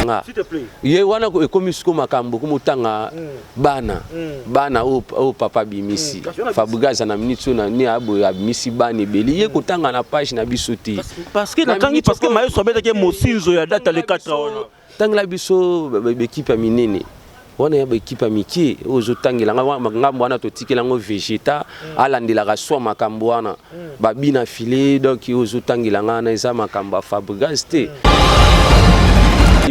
nga ye wana ekomi siko makambo komotanga hmm. bana hmm. bana oyo papa abimisi hmm. fabriga aza na minute oyo nani aboye abimisi bana ebele ye kotanga na page na biso te parceke nakangi parceke mayeso abetaki mosinzo ya data le 4 wana tangela biso bekipe ya minene Wana ya ba equipe ya mikie ozo tangela nga makambo wana to tikela ngo vegeta mm. alandelaka swa makambo wana mm. ba bina filet donc ozo tangela nga na eza makambo ya Fabregas te mm.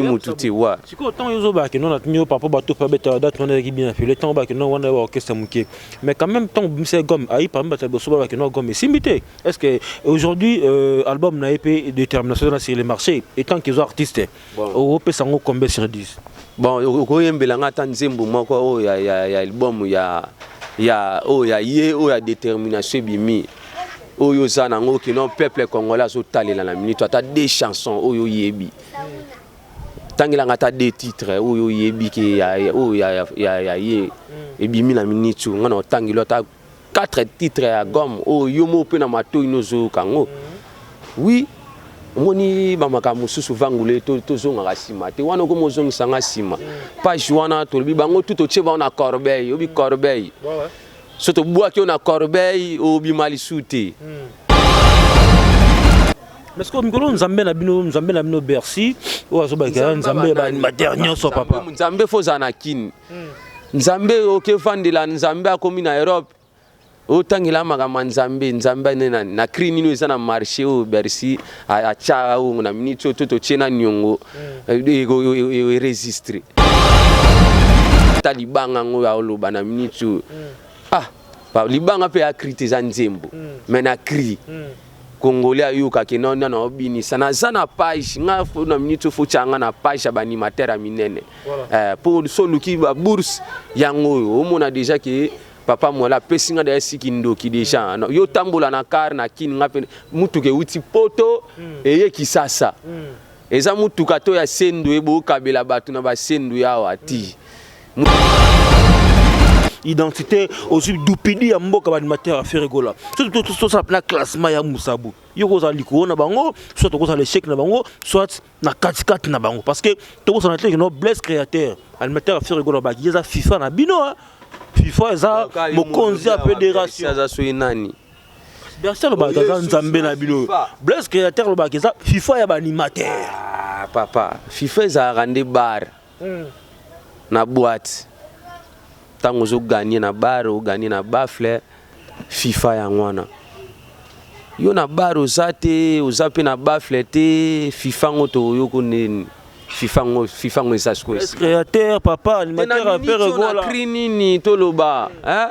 mutu te wa sikoyo ntango yo ozobaka kino na tuni yo papa bato mpe abetaka date wana ezalaki bien afile ntango obaka kino wana ba orchestre moke mais quand même ntango bimisaki gomme ayi parmi bato ya liboso babaka kino gomme esimbi te est ce que aujourd'hui euh, album na ye mpe détermination eza na sur le marché etant qu'ils ont artiste Oko pesa ngo combien sur 10? Bon oko yembela nga ata nzembo moko oyo ya ya ya album ya ya oyo ya ye oyo ya determination ebimi oyo oza na ngo kino peuple congolais azo talela na minute ata deux chansons oyo oyebi. Tangela nga ata deux titres oyo oyebi ke ya oyo ya ya ya ye ebimi na minute nga na otangelo ata Quatre titres ya album oyo yo moko mpe na matoyi no ozoyoka yango oui omoni bamakambo mosusu vangule tozongaka to nsima te wana okomi ozongisa nga nsima page wana tolobi bango tu totie bango na corbeille obi corbeille so tobwaki yo na corbeille obima lisu te mm. parce que mikolo nzambe na bino nzambe na bino bercy oyo azobakela nzambe ya baanimateur nyonso papa nzambe fo ozala na kini hmm. Nzambe oke vandela Nzambe akomi na Europe otangela makambo ya Nzambe Nzambe ne na, na cri nino eza na marché oyo Bercy atya ongo na minute oyo to totye na niongo mm. eresistre ata libanga yango oyo aoloba na minute oyo mm. ah libanga mpe ya cri te eza nzembo mm. mais na cri mm. Congolais ayoka ke non non non binisa na za na page nga faut na minute faut changa na page ya animateur ya minene voilà. eh, pour so luki ba bourse yango oyo omona déjà ke papa mwala apesi nga deya siki ndoki deja mm. yo tambola na car na kin nga pe mutuka euti poto mm. eye kisasa mm. eza mutuka to ya sendu ebo kabela batu na ba sendu yawa ti mm. identité ozwi dupidi ya mboka baanimateur ya ferregola soki tosala mpena classement ya mosabu yo kozala likolo na bango soit tokozala échec na bango soit na katikati na bango parce que tokosana te kino blesse créateur animateur ya ferregola baki eza fifa na bino hein. fifa eza mokonzi ya fédération aza soki nani berse alobaka aza nzambe na bino blaise créateur alobaka eza fifa ya baanimateur ah, papa fifa ezalaka nde bare na boite ntango ozo gagne na bar o gagne na bafle fifa yango wana yo na bar oza te oza mpe na bafle te fifa ngo toyoko nini fifa ngo fifa ngo eza sikoyo créateur papa animateur ya pere gola nini toloba hein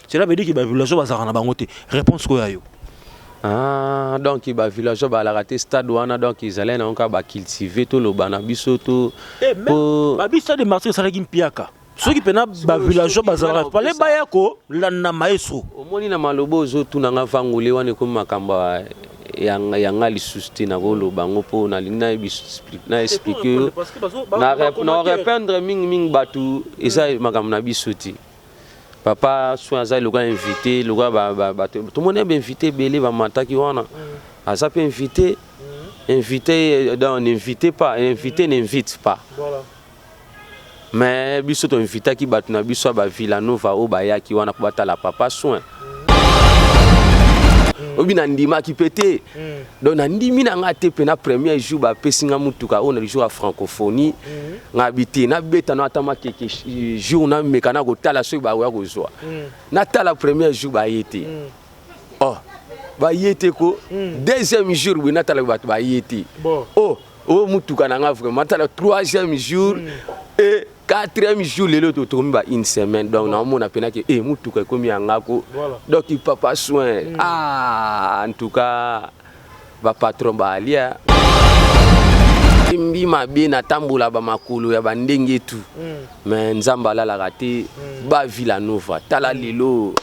cela veut dire que ba villageois bazalaka na bango te réponse ko ya yo Ah, donc ba villageois balaka te stade wana donc ezalaki nango kaka ba cultive toloba na biso to eh, po... babi stade de martyr esalaki mpiaka soki ah, mpena ba villageois bazalaka pale baya kolanda maestro omoni na maloba ozotuna nga vangole wana ekomi makambo ya nga lisusu te nakoloba yango mpo nalingi na explike yo na rependre mingimingi bato eza makambo na biso te papa soin aza lokola invité lokola ba, ba, ba, tomoni ba invité ebele bamataki wana mm. aza mpe invité mm. invité euh, donc n'invite pas invité mm. n'invite pas voilà. mais biso toinvitaki bato na biso ya bavillanova oyo bayaki wana mpo batala papa soin mm. obi nandimaki mpe te mm. donc nandimi na ngai te mpe na premier jour bapesi ngai motuka oyo na lijour ya francophonie mm. ngai bi te nabeta na ata makeke eh, jour nameka na kotala soki bakoya kozwa mm. natala premier jour baye te mm. oh baye te ko mm. deuxième jour boye natala bato baye te bon. oh oyo oh, motuka na ngai vraiment natala troisième jour mm. e quatrième jour lelo totomi ba une semaine donc naomona pena ke e motuka ekomi ya ngako donc papa soin mm. ah, en tout cas bapatron baalia embi mabe natambola bamakolo ya bandenge etu mm. mais nzambe alalaka te mm. ba villa nova tala lelo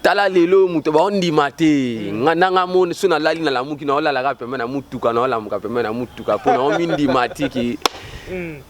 tala lelo moto baondima te nga nanga moni so nalali nalamuki naolalaka pembe na motuka naolamuka pembe na motuka mpo naomindima tiki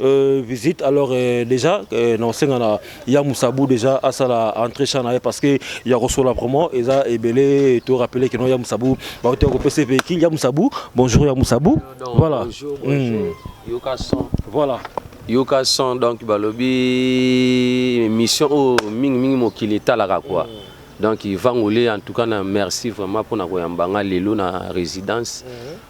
Euh, visite alors euh, déjà euh, na osenga na ya musabu déjà asala entrée chan na ye parce que ya kosola vraiment eza ebele to rappeler que non ya musabu baote ya kopesa pe ki ya musabu bonjour ya musabu voilà bonjour, hmm. bonjour. Mm. yoka son voilà yoka son donc balobi mission oyo oh, mingi mingi mokili etalaka quoi mm. donc ivangole en tout cas na merci vraiment mpona koyamba nga lelo na résidence mm.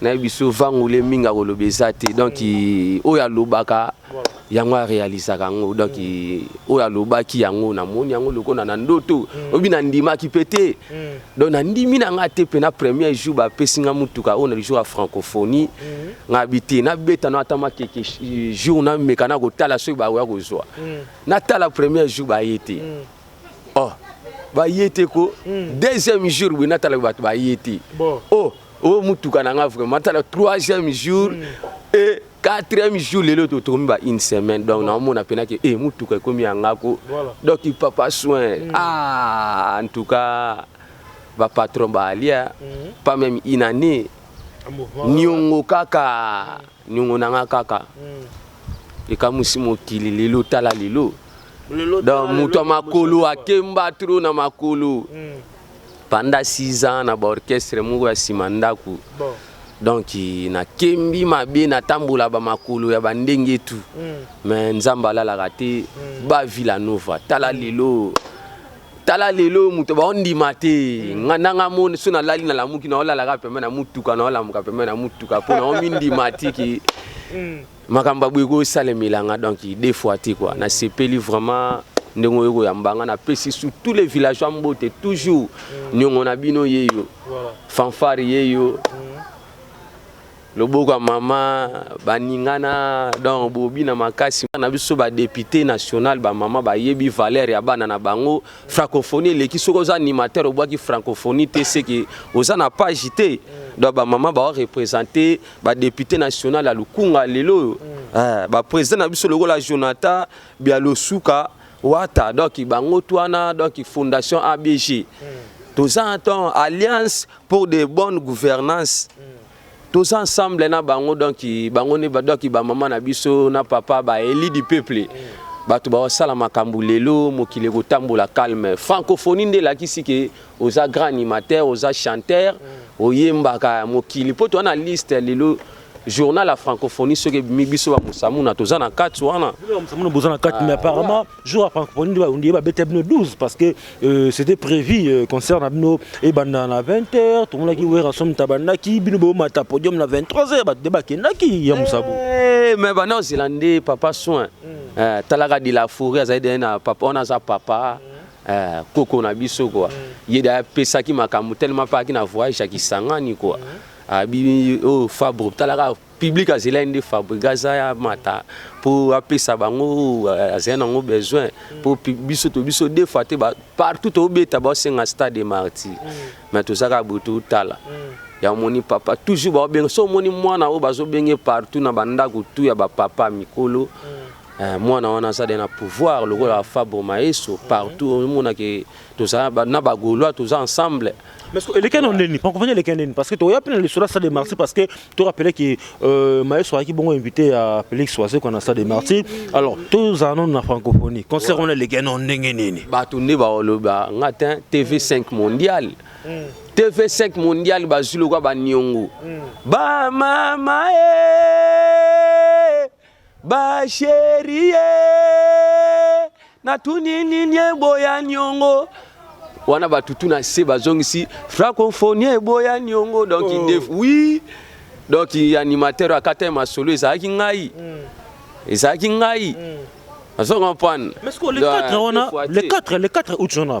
nayebi biso vangule mingi akoloba eza te donc oyo alobaka yango arealisaka yango donc oyo alobaki yango namoni yango lokola na ndoto mm. oyebi nandimaki mpe te mm. donc nandimi na ngai te mpe na premier jour bapesi ngai motuka oyo na lijour ya francophonie mm. ngai bi te nabeta na ata makeke jour nameka na kotala soki bakoya kozwa natala premier jour baye te oh baye te ko hmm. deuxième jour boye natala bato baye te oh oyo oh, motuka na nga vraiment natala troisième jour hmm. e quatrième jour lelo totokomi ba une semaine donc naomona mpena ke e eh, motuka ekomi ya nga ko donc papa soin hmm. ah en tout cas bapatron baalia pas même une année niongo kaka Niongo na nga kaka ekamuisi mokili lelo tala lelo donc moto ya makolo akemba trop na makolo panda 6 ans na ba orchestre moko ya sima ndaku donc nakembi mabe natambola ba makolo ya ba ndenge tout mais nzambe alalaka te ba villa nova tala lelo tala lelo oyo moto baondima te mm. nga nanga moni so nalali nalamuki naolalaka pembe na motuka naolamuka pembe na motuka mpo naomindima tiki mm. makambo ya boye ekosalemela nga donc deux fois te kua nasepeli vraiment ndenge oyo koyamba nga napesi sur tous les villageois mbote toujours mm. niongo na bino yeyo fanfare yeyo Loboko ya mama baningana donc bobi na makasi na biso ba depute national ba mama bayebi valeur ya bana na bango francophonie eleki soki oza animateur obwaki francophonie te seke oza na page te donc ba mama ba representer ba depute national ya lukunga lelo oyo mm. eh, ba president na biso lokola Jonathan Bialosuka wata donc bango twana donc fondation ABG mm. toza temps alliance pour de bonnes gouvernances mm. toza ensemble na bango donc bango nde ba donc ba maman na biso na papa ba eli du peuple bato basala makambo lelo mokili ekotambola calme francophonie nde elakisi ke oza grand animateur oza chanteur oyembaka mokili mpo toza na liste lelo journal ya francophonie soki ebimi biso bamosamuna toza na kati wana boza na kati mais apparemment jour ya francophonie nde barundi ye babeta bino 12 parce que euh, c'était prévu euh, concert na bino ebanda na 20 heures tomonaki werrason moto abandaki bino bomata podium na 23 heures bato nde bakendaki ya mosabu Eh, mais bana ozela nde papa soin Eh, talaka de la forêt azali deye na papa wana aza papa eh, koko na biso kua ye de apesaki makambo telema mpe ayaki na voyage ya kisangani kua abi oyo fabro talaka Public azelaki nde Fabregas aya mata mpo apesa bango euh, azali nango besoin mpo biso to biso deux fois te partout tobeta baosenga stade de martyr mm. mais toza kaka boye totala mm. ya omoni papa toujours baobenga so omoni mwana oyo bazobenge partout na bandako tu ya bapapa mikolo mm. eh, mwana wana aza de na pouvoir lokola fabre maeso partout omonake toza na ba gaulois toza ensemble mais ce que eleki na nini pas convenu eleki na nini parce que toya pena le sola ça de martyr parce que to rappeler que euh, maestro aki bongo invité à Felix Soise qu'on a ça de martyr alors tous en na francophonie concert on eleki na ndenge nini ba tunde ba oloba ngatin TV5 mondial TV5 mondial bazulu kwa ba nyongo ba mama eh Ba cherie natuni nini eboya niongo wana batutu na se bazongisi francophonie eboya niongo donc oh. ndefu oui donc animateur akata masolo ezalaki ngai mm. ezalaki ngai mm. azo comprendre mais le 4 wana le 4 le 4 août wana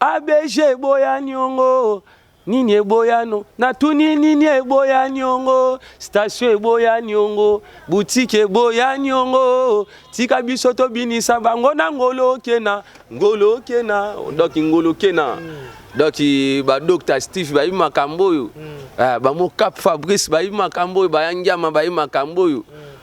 ABG eboya niongo nini eboya no natuni nini eboya niongo station eboya niongo boutique eboya niongo tika biso tobinisa bango na ngolo kena ngolo kena donc ngolo kena mm. donc ba docteur Steve bayi makambo oyo mm. ah, ba mokap Fabrice bayi makambo oyo bayangiama bayi makambo oyo mm.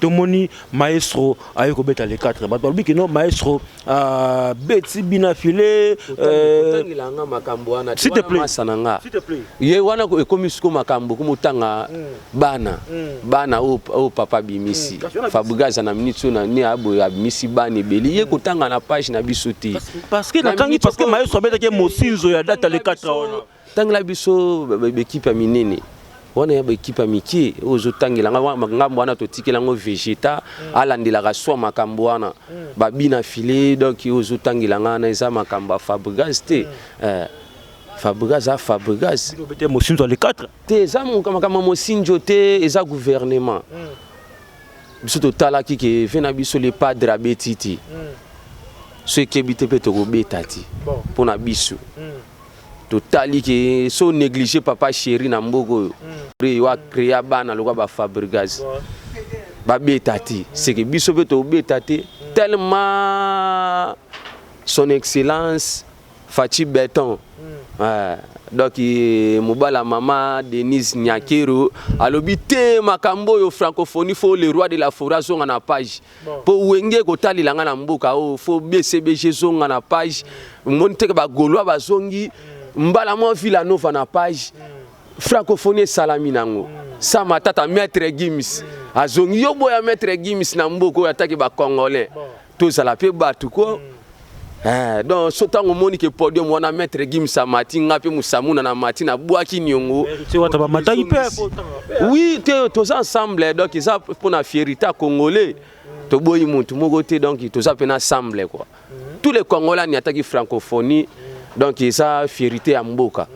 tomoni maestro aye kobeta le 4 bato balobi kino maestro uh, beti bina file otangilanga euh, makambo wana masa na nga ye wana ekomi siko makambo komotanga mm. bana mm. bana oyo oh, oh, papa abimisi mm. fabrigaza na minute oyo nani aboye abimisi bana ebeli ye kotanga na page na biso te parce que natangi parce que maestro abetaki mosinzo ya data le 4 wana Tangela biso bekipe ya minene wana ya baekipe ya mikie oyo ozotangela ngambo wana totikela yango vegeta mm. alandelaka swa makambo wana mm. babi na file donk oyo ozotangela nga wana eza makambo ya fabrigas te mm. eh, fabrigas a fabrigas mosinzo ya le 4 te eza makambo ya mosinzo te eza gouvernement biso totalaki ke ve na biso le padre abeti ti so ekebi te mpe tokobeta ti mpo na biso totali ke so néglige papa chéri na mboka oyo hmm. yo acrea bana lokola ba fabrigas babeta te seke biso mpe tobeta te hmm. tellement son excellence faci beton hmm. eh, donc eh, mobala mama denise nyakero alobi te makambo oyo francophonie fo le roi de la foret azonga na page po wenge kotalela nga na mboka oyo fo bcbg ezonga na page omoni teke bagolois bazongi mbala mwa villa nova na page francophonie esalami nango sa matata maître gims azongi yo boya maître gims na mboka oyo atake bacongolais tozala mpe bato ko Eh, donc so ntango omoni ke podium wana maître gims amati nga mpe mosamuna na mati nabwaki niongo oui te toza ensemble donc eza mpo na fierité ya congolais toboyi motu moko te donc toza mpe na ensemble quoi tous les congolais aniataki francophonie donc eza fierité ya mboka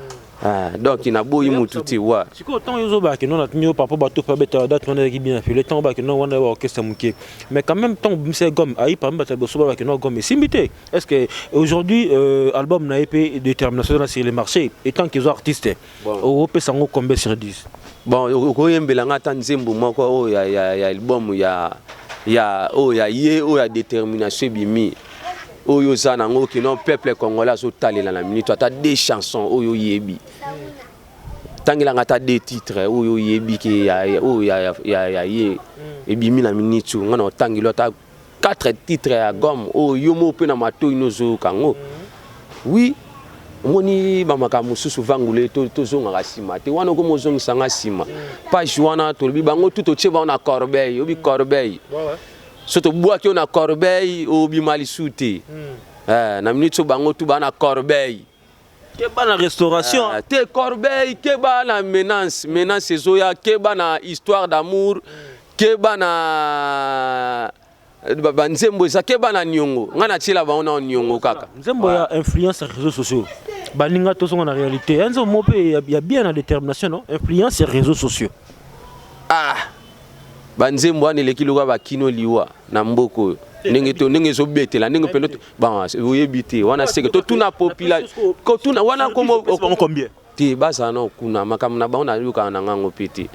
Ah, donc na boyi mutu te wa. Siko tant yo zoba ke non atni yo papa bato pa beta date on est bien fait le temps ba ke non on est orchestre muke. Mais quand même tant bimse gomme ayi parmi bata boso ba ke non gomme simbite. Est-ce que aujourd'hui euh, album na EP détermination na sur le marché et tant qu'ils artistes bon. au pe sango combien sur 10 Bon okoyembela nga ata nzembo moko oyo oh, ya ya ya album ya ya oyo oh, ya ye oyo oh, ya détermination bimi oyo oza nango kino peuple congolais azotalela na minute ata deux chansons oyo oyebi tangelanga ata deux titres oyo oyebi ke oyo ya ye hmm. ebimi na minute oyo ngai na otangeli ata quatre titres ya gomme oyo yo moko mpe na matoi nozoyoka yango hmm. oui omoni bamakambo mosusu vangule tozongaka nsima te wana okomi ozongisa ngai nsima hmm. page wana tolobi bango tu totie bango na corbeille obi corbeille so tobwaki yo na corbeille obima lisu te hmm. eh, na minute so bango tu bana corbeille keba na restauration eh, te corbeille keba na menace menace ezoya keba na histoire d'amour hmm. keba na banzembo eza keba na niongo ngai natiela bango na niongo kaka nzembo ya influence ya réseaux sociaux baninga tozonga na réalité enzo mo mpe ya bien na détermination no influence ya réseaux sociaux ah ba nzembo wana eleki lokola ba kino liwa na mboka oyo ndenge to ndenge ezobetela ndenge mpe bon oyebi te wana seke totuna popula kotuna wana kombo te bazala na kuna makambo na bango nayokaka na ngango mpe te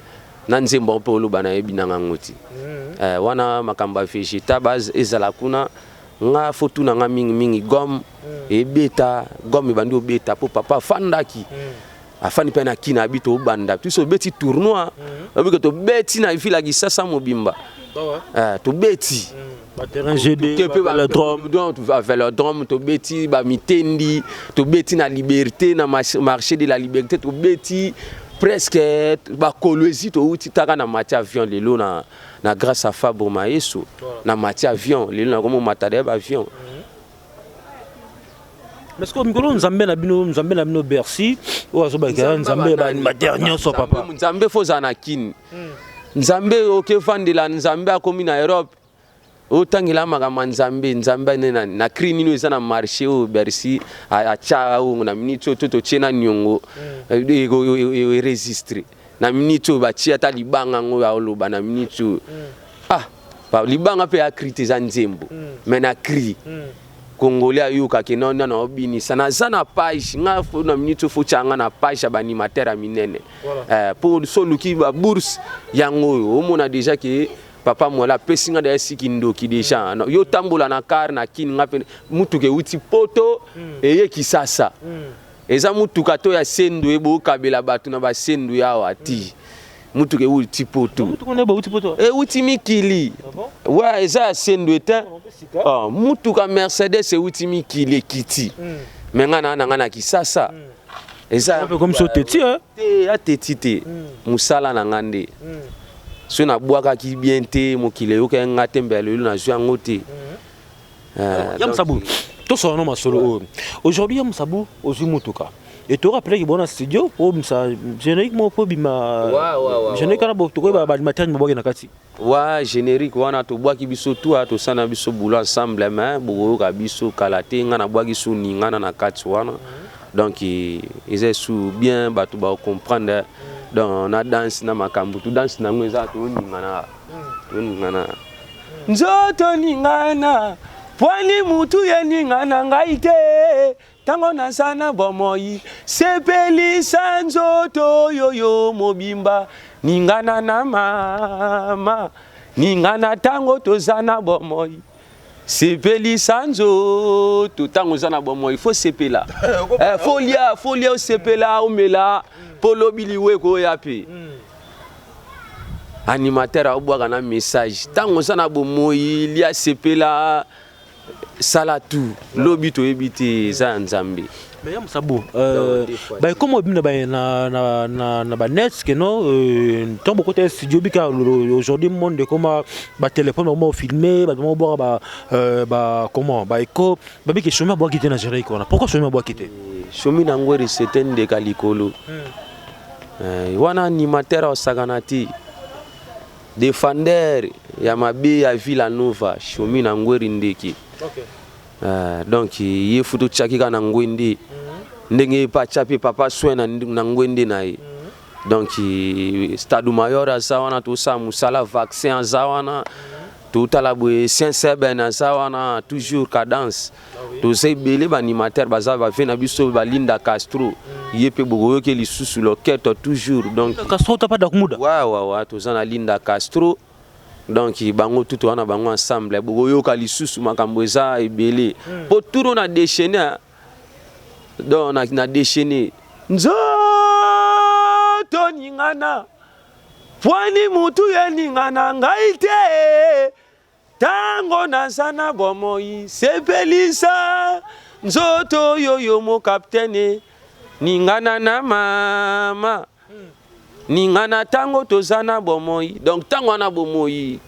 na nzembo yango mpe oloba nayebi na ngango te mm. eh, wana makambo ya vegeta base ezala kuna nga fotu na nga mingi mingi gome mm. ebeta gome ebandi obeta mpo papa afandaki mm. afani mpe na kina abi tobanda biso obeti tournoi mhm. obike tobeti na ville ya kisasa mobimba eh, tobeti velodrome tobeti bamitendi tobeti na liberté na marché de la liberté tobeti presque bakolo ezi touti taka na mati avion lelo na, na grâce ya fabro maeso na mati avion lelo nakomi omatala ya baavion mm. mais sikoyo mikolo nzambe na bino nzambe na bino bercy oyo azobakela nzambe ya baanimateur nyonso papa nzambe fo ozala na kini hmm. nzambe oke vandela nzambe akomi na europe otangela makambo ya nzambe nzambe nde na cri nini eza na marché oyo bercy atya ongo na miniti oyo to totye na niongo hmm. eresistre eh, eh, eh, na minute oyo batie ata libanga yango ya oloba na minute oyo mm. ah ba libanga mpe ya cri te eza nzembo mm. mais na cri mm. congolais ayoka ke na nana obinisa naza na page nga fo na minute oyo fotya nga na page ya baanimateur ya minene voilà. eh, mpo so oluki babourse yango oyo omona deja ke papa mwala apesi nga deya siki ndoki deja mm. yo otambola na kar na kini nga mpe motuka euti poto mm. eye kisasa mm. Eza mutuka to ya sendwe eh, bo kabela batu na ba sendwe awa ti. Mutuka ewuti eh, ti poto. Mutuka ne bawuti poto. Ewuti mikili. Ah Wa eza ya sendwe te. Ah, mutuka Mercedes ewuti mikili ekiti. Hmm. Me nga na nga na Kisasa. Hmm. Eza pe comme so teti eh. Te ya teti te. Hmm. Musala na nga nde. So na bwaka ki bien te mokile yoka nga te mbele lelo na zwa ngote. Euh, ya musabu tosala no masolo oyo aujourd'hui ya musabu ozwi motuka et tu auras peleki bona studio oyo oh, msa générique moko mpo obima générique wana tokoyeba baanimateri mabwaki na kati wa générique wana tobwaki biso tu a tosala na biso boulot ensemble mais bokoyoka biso kala te ngai nabwaki so ningana na kati wana donc e, eza esu bien bato bacomprendre donc na danse na makambo tu danse na yango eza toningana toningana Nzoto ningana pwani mutu ye ningana ngai te tango naza na bomoi sepelisa nzoto yo yo mobimba ningana na mama ningana tango toza na bomoi sepelisa nzoto ntango oza na bomoi fo sepela eh, eh, folia folia osepela omela mpo lobi liwa ekoya mpe hmm. animateur abwaka na message ntango oza na bomoyi lia sepela sala tu lobi toyebi te eza ya nzambe ya mosabo euh, baekoma obina na banet keno euh, ntango bokota ya studio bika aujourd'hui monde ekoma batelefone bakoma ofilme bato moko bwaka bacomment euh, baeko babiki somi abwaki te na jeric wana pourkoi somi abwaki te somi na yango erisete ndeka likolo hmm. Eh, wana animateur asakana te defender ya mabe ya villa nova shomi na ngweri ndeke okay. uh, donc ye futu tyaki kaka na ngwende mm -hmm. ndenge ye mpe atya mpe papa soin na, na ngwende na ye mm -hmm. donc eh, stade mayor aza wana tosala mosala vaccin aza wana mm -hmm. totala boye sinseben aza wana toujours cadence toza ebele ba animateur baza ba vie na biso ba Linda Castro ye mpe bokoyoki lisusu loketo toujours donc Castro tapa dakumuda wa wa wa toza na Linda Castro donc bango tutu wana bango ensemble bokoyoka lisusu makambo eza ebele mpo hmm. turo na déchaîné hein. donc na, na déchaîné nzoto ningana pwani mutu ye ningana ngai te Tango naza na bomoi sepelisa nzoto yo yo mo capitaine ningana na mama ningana tango toza na bomoi donc tango wana bomoi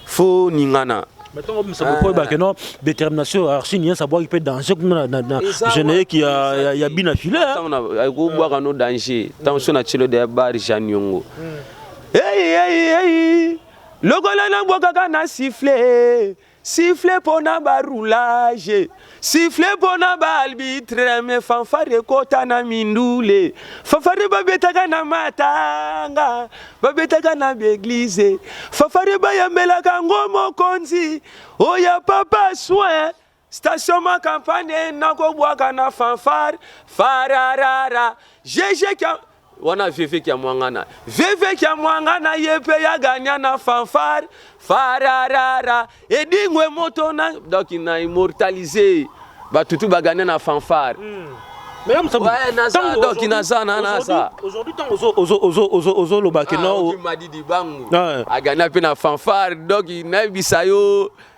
faut ningana Maintenant, comme ça, pourquoi bah, que non, détermination, archi, rien, ça boit, il peut danser, comme na, na, na, je n'ai qui a, y a bien affilé. Tant on a, go boire quand on danger, tant on a chilo de bar, Jean Yongo. Hey, hey, hey, Lokola na bwakaka na siffle, siffle pona ba roulage, siffle pona ba arbitre me fanfare ekota na mindule. Fanfare ba betaka na matanga, ba betaka na ba eglise. Fanfare ba yambelaka ngo mokonzi, oya papa soin. Station ma campagne nako bwaka na fanfare fararara jeje kia wana veve kia mwangana veve kia mwangana ye pe ya gagna na fanfare fararara edingwe moto na donc na immortaliser batutu ba gagna na fanfare mm. Mesdames, ça ouais, naza, donc naza na naza. Aujourd'hui tant ozo ozo ozo ozo ozo loba que non. Madidi bangu. Agana pe na fanfare donc na bisayo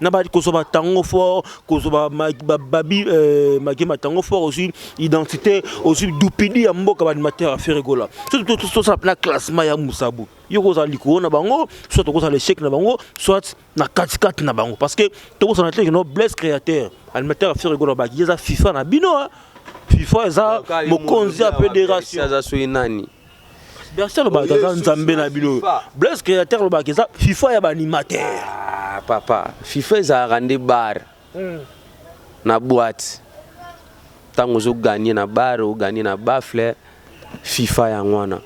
na ba kozwa batango fort kozwa babi euh, mage matango fort ozwi identité ozwi dupidi ya mboka baanimateur ya feregola soki tosala mpena classement ya mosabu yo kozala likolo na bango soit tokozala échec na bango soit na katikati na bango parce que tokosana te kino blesse créateur animateur ya feregola baki eza fifa na bino fifa eza mokonzi ya fédération aza soki nani Bercy alobaka aza nzambe na bino Blaise créateur alobaka eza FIFA ya baanimateur ah, papa FIFA ezalaka nde bar hmm. na boite ntango ozoganye na bar oganye na bafle FIFA yango wana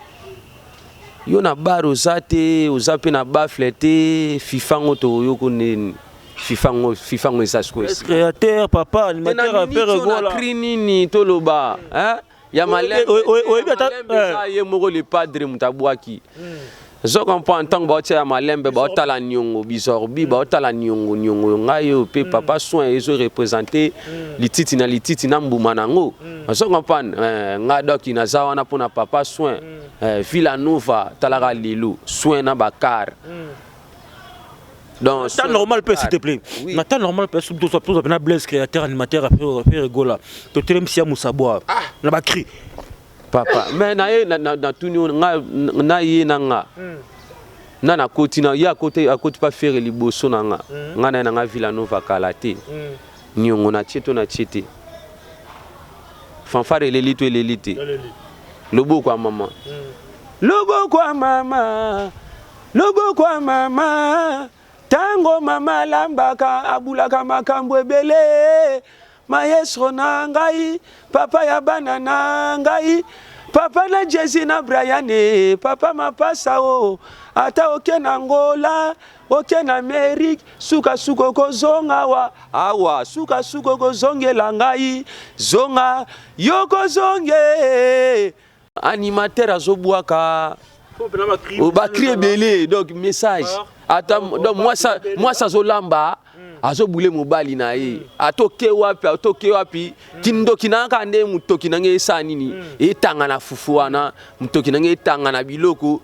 yo na bar oza te oza mpe na bafle te FIFA ngo toyoko nini FIFA ngo FIFA ngo eza sikoyo créateur papa animateur père gola nini toloba hein ya malem oyebi ata eh. ye moko le padre moto abwaki zo comprendre ntango baotia ya malembe baotala niongo bizorbi baotala niongo niongo yo ngai oyo mpe papa soin ezo represente mm. lititi na lititi na mbuma na yango mm. ozo comprendre eh, ngai doki naza wana mpo na papa soin mm. eh, villa nova talaka lelo soin na bakar dans temps normal pe s'il te plaît na temps normal pe sous toza toza na blaise créateur animateur après faire gola to telem sia musabwa ah. na ba cri papa mais na ye na tuni nga na ye na nga hmm. na na koti na ye akote akoti pa faire liboso na nga hmm. nga na na nga Villa Nova kala te hmm. nyongo na tie to na tie te fanfare eleli to eleli te loboko ya mama loboko ya mama Loboko ya mama, tango mama alambaka abulaka makambu ebele, maestro na ngai, papa ya bana na ngai, papa na Jezi na Brian eh, papa mapasa oh, ata oke na Angola, oke na Amerique, suka suka okozonga awa, awa, suka suka okozongela ngai, zonga, yo kozonge, Animateur azo bwaka ba cri ebele donc message ata donc mwasa mwasa azo lamba azo bule mobali na ye atoke wapi atoke wapi kindoki na kaka nde motoki na ngai esala nini etanga na fufu wana motoki na ngai etanga na biloko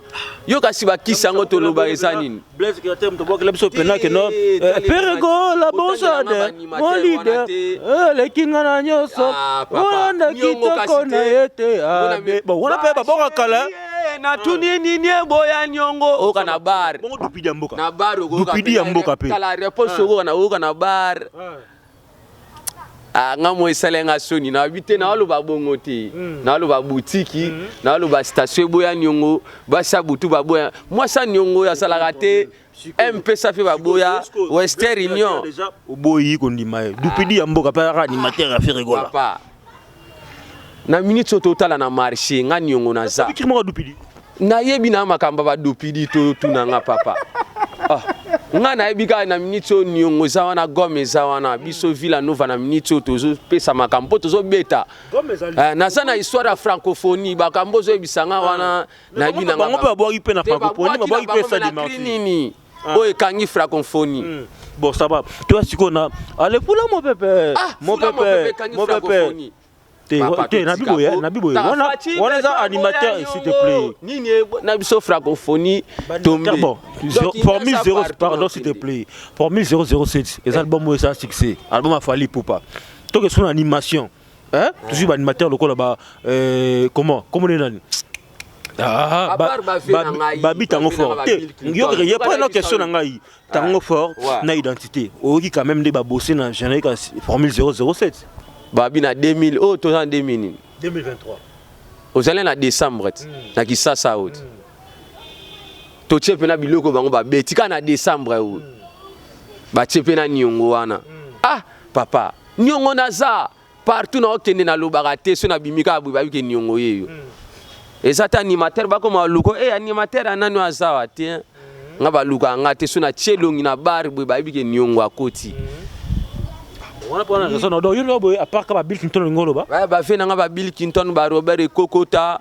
yo kasi bakisi yango toloba eza nini Blaise Createur motobwakela biso pena ke no eh, peregola bonsade mon leader eh, eleki nga na nyonso ah, olanda kitoko na ye te ah, wana mpe baboka kala natuni nini eboya niongo oyoka na bar na bar okoyoka mpe tala reponse okoyoka na oyoka na bar Ah, nga moi esali nga soni na bite na aloba bongo te mm. na aloba boutique mm. na aloba station eboya niongo basi ya butu baboya mwasi ya niongo asalaka te mpe safi baboya western union oboyi kondima ye dupidi ya mboka mpe azaka animateur ya ferregola na minute oyo totala na marché nga niongo naza nayebi na makambo badupidi totuna nga papa ah. nga nayebi kaka na minute oyo niongo eza wana gome eza wana biso villa nova na minute oyo tozopesa makambo mpo tozobeta eh, naza na histoire ya francophonie bakambo ozoyebisa nga wana ah. nayebi nanganini Ah. oyo ekangi fraconphonie hmm. bon ça va toi sikoyo na ale fula mopepe ah, mopepe mopepe te na biboye na biboye wana wana eza animateur s'il te plaît nini na biso francophonie tombe bon formule 0 pardon s'il te plaît formule 007 eza album oyo eza succès album afali pupa toke sona animation hein toujours ba animateur lokola ba euh, comment comment nani Ah, babi tango fort te yokeke ye mpo na question na ngai tango ah, fort na identité oyoki quand même nde babose na générique ya formule 007 babi na 2000 oyo toza na 2000 nini 2023 ozali na décembre ti hmm. na kisasa oyo ti hmm. totie mpe na biloko bango babeti kaka na décembre oyo hmm. batie mpe na niongo wana ah papa niongo naza Partout na okende na lobaka te so na bimi kaka boye bayoke niongo yeyo. Mm. Eza ta animateur bakoma luko eh animateur anani azawa te. Hein? Mm. Nga baluka nga te so na chelongi na bar boye bayebi ke niongo akoti. Mm. wana pona raison donc yo lobo à part ka ba Bill Clinton ngolo ba ba vie na nga ba Bill Clinton ba Robert Kokota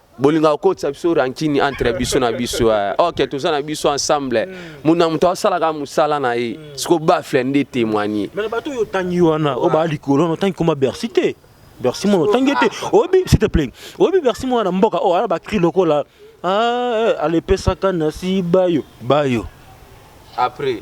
bolingaka kokotisa biso rankini entre biso na biso eh. ok toza na biso ensemble moto na moto asalaka mosala na ye mm. siko bafle nde témoigne mais bato oyo otangi wana oyo baa likolo na otangi koma bercy te bercy mono otangi te oyebi s'il te plaît oyebi bercy mono na mboka oyo oh, ala bacri lokola ah, eh, alepesaka na si bayo bayo après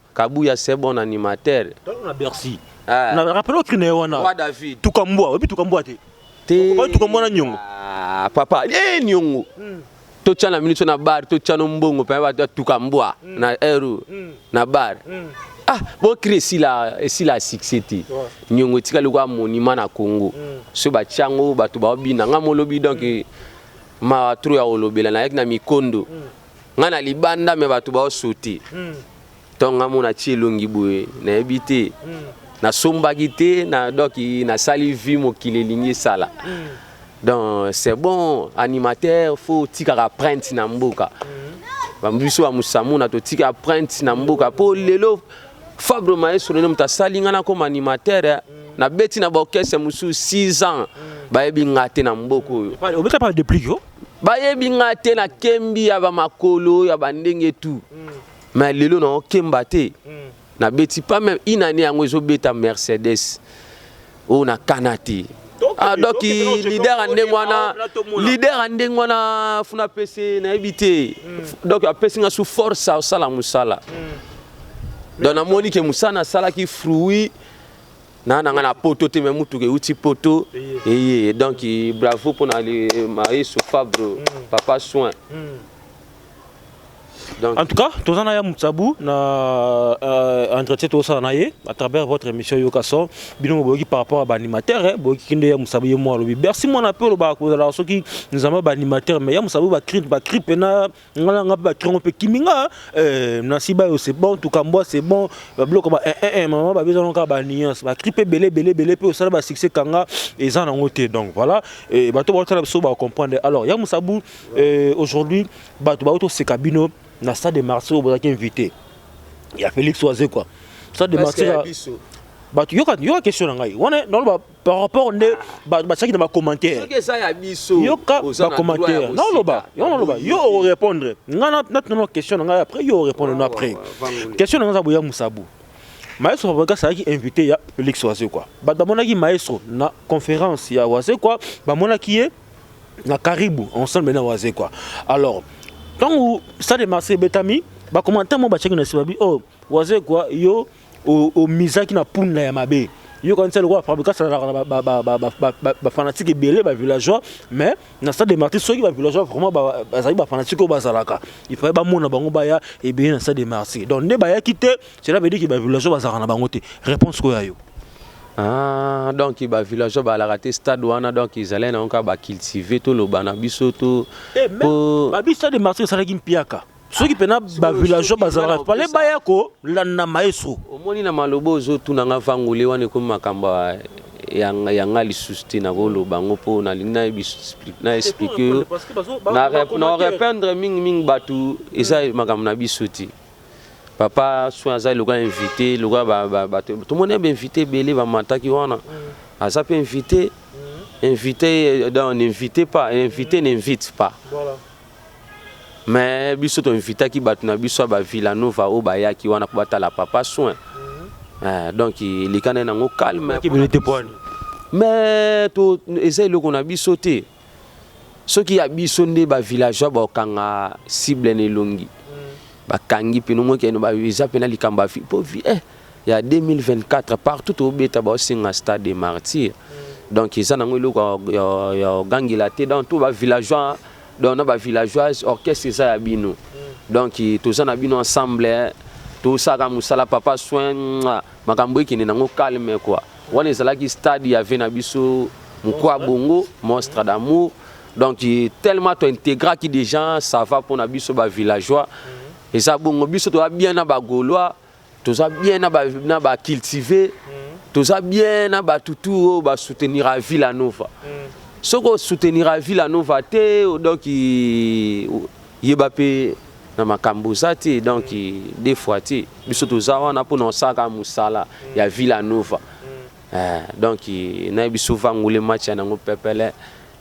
Kabuya ce bon animateur. Tango na Bercy. Eh. Na rappelle au crime wana. Wa David. Tuka mbwa, obi tuka mbwa te. Te. Ba tuka mbwa na nyongo. Ah, papa, eh nyongo. Hmm. To tchana minute na bar, to tchano mbongo pa ba tuka mbwa hmm. na eru hmm. na bar. Hmm. Ah, bo crime si la si la succès te. Nyongo tika lokwa monument na Congo. Hmm. So ba tchango ba to ba bina ngamolobi donc hmm. ma tro ya olobela na yek na mikondo. Hmm. nga na libanda me bato baosuti hmm. ntongo nga mona ti elongi boye nayebi te hmm. nasombaki te na doki nasali vi mokili elingi esala hmm. donc c'est bon animateur fo otikaka printe na mboka biso ya mosamuna totika printe na mboka mpo lelo fabre maestro nde moto asali ngai nakoma animateur eh. nabeti na baorchestre mosusu 6 ans bayebi ngai te na mboka oyo obeta pa deplique Bayebi nga te na kembi ya ba makolo ya ba ndenge tout. Mm. Mais lelo na okemba te. Mm. Na beti pas même une année yango ezo beta Mercedes. Oh na kana te. Ah, donc leader ya ndenge wana leader ya ndenge wana funa pese nayebi te mm. donc apesi nga su force asala mosala mm. donc namoni ke mosala nasalaki fruit na nanga na poto te me mutuka euti poto eye donc bravo mpona maeso fabro mm. papa soin mm. Donc. En tout cas, tous en ayam tsabou na euh, entretien tous en ayé à travers votre émission Yokaso. Bino boki par rapport à l'animateur, hein, boki kinde yam tsabou yé moi lobi. Bercy mon appel au bas à cause de la soki nous avons l'animateur, mais yam tsabou va crip va crip na nga na nga mpe batrongo mpe kimi nga eh, nasi bayo c'est bon tukambwa c'est bon babiloko ba eh, eh, eh, mama babezana kaka banuance bakri mpe ebele ebele ebele mpe osala basuccès kanga eza nango te donc voilà eh, bato baotala biso bacomprendre alors ya mosabu eh, aujourd'hui bato baoto oseka bino na stade de marse oyo bozalaki invité ya félix oaze quoi stade de marse bato yoka question na ngai wana naloba par rapport nde bato batiaki na bacommentaire yoka bacommentaire naoloba yo naloba yo orépondre ngai natunano question na ngai après yo orépondre no après question na ngai aza boya mosabu maestro fabrigas azalaki invité ya félix wazekwa bato bamonaki maestro na conférence ya wazekwa bamonaki ye na karibu ensemble na wazekwa alors ntango stade de marseille ebetami bacommentaire mo batiaki na nsima bi o oh, wazekwa yo omizaki na punda ya mabe yo kanisa lokola fabrika asalaka na bafanatique ebele bavillageois mais na stade de marti soki bavillageois vraiment bazali bafanatique oyo bazalaka il fallait bamona bango baya ebele na stade de marti donc nde bayaki te cela veut dire ke bavillageois bazalaka na bango te réponse koya yo Ah, donc ba villageois ba la te stade wana donc ils allaient na ba cultiver tout le bana biso tout. Eh, mais, ba biso de marché ça qui mpiaka. soki mpena bavillageois bazalaka pale baya kolanda maestro omoni na maloba ozotuna nga vangole wana ekomi makambo ya nga lisusu te nakoloba yango mpo nalingi na explike yo na rependre mingimingi bato eza hmm. makambo na biso te papa soin aza lokola invité lokola bato tomoni ya bainvité ebele bamataki wana hmm. aza mpe invité hmm. invité donc n'invite pas invité n'invite pas voilà. mais biso to invitaki bato na biso ya ba Villanova oyo bayaki wana mpo batala papa soin mhm. eh, donc eleka na yango calme mais eza eloko na biso te soki ya biso nde ba villageois bakanga cible na elongi mhm. bakangi mpino moki eza mpena likambo po eh, ya 2024 partout tobeta baosenga stade de martyr mhm. donc eza nango eloko ya ogangela te donc to ba villageois donc na ba villageoise orchestre eza ya bino donc toza na bino ensemble hein. tosaka musala papa soin makambo ekende nango calme quoi wana ezalaki stade ya vie na biso mokwa bongo monstre d'amour donc tellement to intégraki déjà ça va pona biso ba villageois eza bongo biso toza bien na ba gaulois toza bien na ba na ba cultiver mm. toza bien na ba tutu oyo ba soutenir à Villa Nova mm. soki o soutenir à Villa Nova te donc yeba pe na makambo oza te donc mm. des fois te biso toza wana mpo na osaka mosala mm. ya Villa Nova mm. eh, donc na biso vangole match ya nango pepele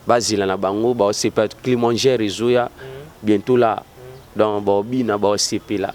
bazela na bango baosepela climangere ezoya mm. bientôt la mm. donc baobina baosepela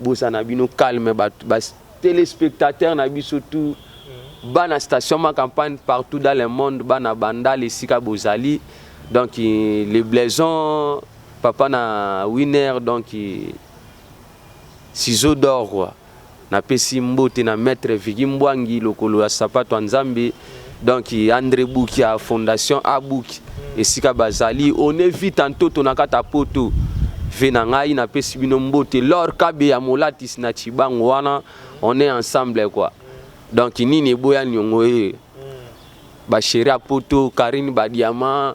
Boza na bino calme ba telespectateurs na biso tout mm. bana station ma campagne partout dans le monde bana bandal esika bozali donc le blaison papa na winner donc ciseau d'or quoi napesi mbote na maître Vigi Mbwangi lokolo ya sapato ya Nzambe donc andre buki ya fondation abuki esika bazali on est vite en toto na kata poto ve na ngai napesi bino mbote lor kabe ya molatis na chibango wana on est ensemble quoi donc nini eboya niongo ye basheri ya poto karine badiama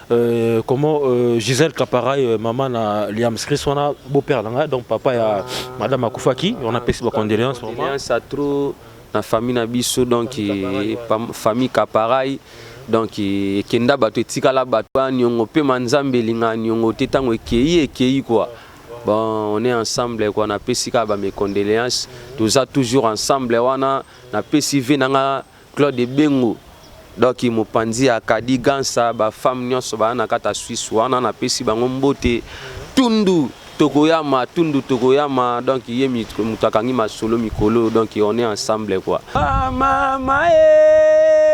Euh, comment euh, Gisèle Caparay, euh, maman na Liam Chris, on a beau-père là, donc papa ya ah. madame Akufaki, on a payé ma condoléances. Condoléances à trop na famille na biso donc famille Caparay. donc ekenda bato etikala bato ya niongo mpe ma nzambe elinga niongo te ntango ekei ekei kua bon on est ensemble kua napesi kaka bamecondoléance toza toujours ensemble wana napesi ve na nga Claude Ebengo donc mopanzi ya Kadi Gansa ba femmes nionso ba na kata Suisse wana na pesi bango mbote Tundu tokoyama Tundu tokoyama donc ye mutu akangi masolo mikolo donc on est ensemble quoi ah mama eh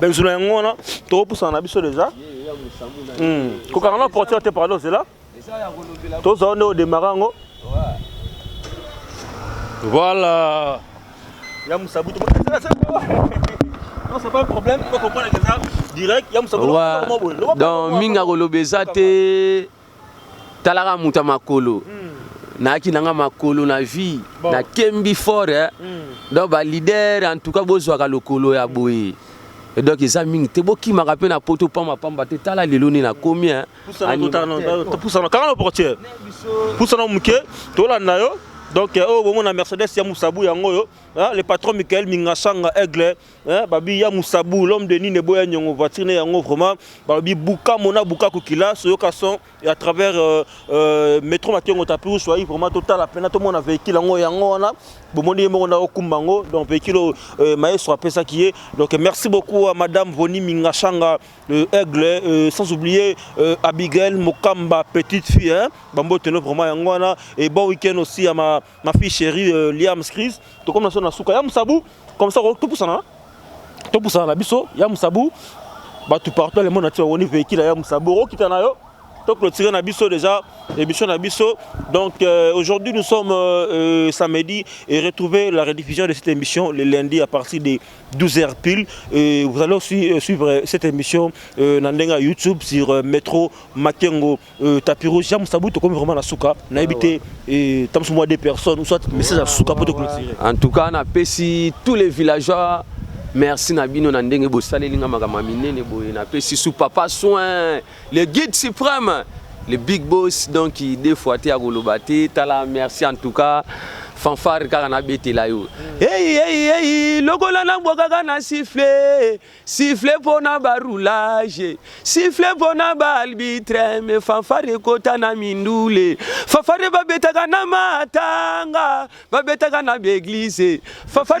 benzo na yango wana tokopusana na biso deja hmm. kokanga na porteur te pardon zela tozala nde odemara yango voilà ya mosabu donc mingi akoloba eza te Talaka moto ya makolo nayaki na nga makolo na vie bon. na kembi fort eh? mm. donc ba leader en tout cas bozwaka lokolo ya boye Et donc eza mingi te bokimaka mpe na poto pamba pamba te tala lelo nini nakomi eh? pusana kanga na portiere pusana moke tolanda yo donc oyo oh, bomona mercedes ya mosabu yango oyo ah, le patron michael mingashanga aigle Hein, babi ya musabu l'homme de nine boya nyongo voiture ne yango vraiment babi buka mona buka kukila soyoka son et à travers euh, euh, métro makengo tapiru soyi vraiment totala pena tomona véhicule yango yango wana bomoni ye moko ndako kumba yango donc véhicule oyo euh, maestro apesaki ye donc merci beaucoup à madame Voni Mingashanga euh, aigle euh, sans oublier euh, Abigail Mokamba petite fille hein bambo teno vraiment yango wana et bon week-end aussi à ma Ma fille chérie euh, Liam Screes, tokomi na so na suka ya musabu comme ça topusana topusana na biso ya musabu bato partout le monde ati bawoni véhicule ya musabu okokita na yo toclotire na biso déjà émission na biso donc euh, aujourd'hui nous sommes euh, euh, samedi et retrouvez la rediffusion de cette émission le lundi à partir de 12h pile et vous allez aussi euh, suivre cette émission euh, na ndenga youtube sur euh, métro makengo Euh, tapiro jean mosabu tokomi vraiment na suka nayebi ah, te euh, tamosu mwa deux personnes soit message ya suka mpo tokolotire en tout cas napesi tous les villageois merci na bino na ndenge bosaleli nga makambo ya minene boye napesi sous papa soin le guide suprême le big boss donc deux fois te akoloba te tala merci en tout cas fanfare kaka nabetela yo mm. eyi eyi eyi lokola nabwakaka na sifle Sifflet pona ba roulage, sifflet pona ba arbitre, me fanfare ekota na mindule. Fanfare babetaka na matanga, babetaka na ba eglise. Fanfare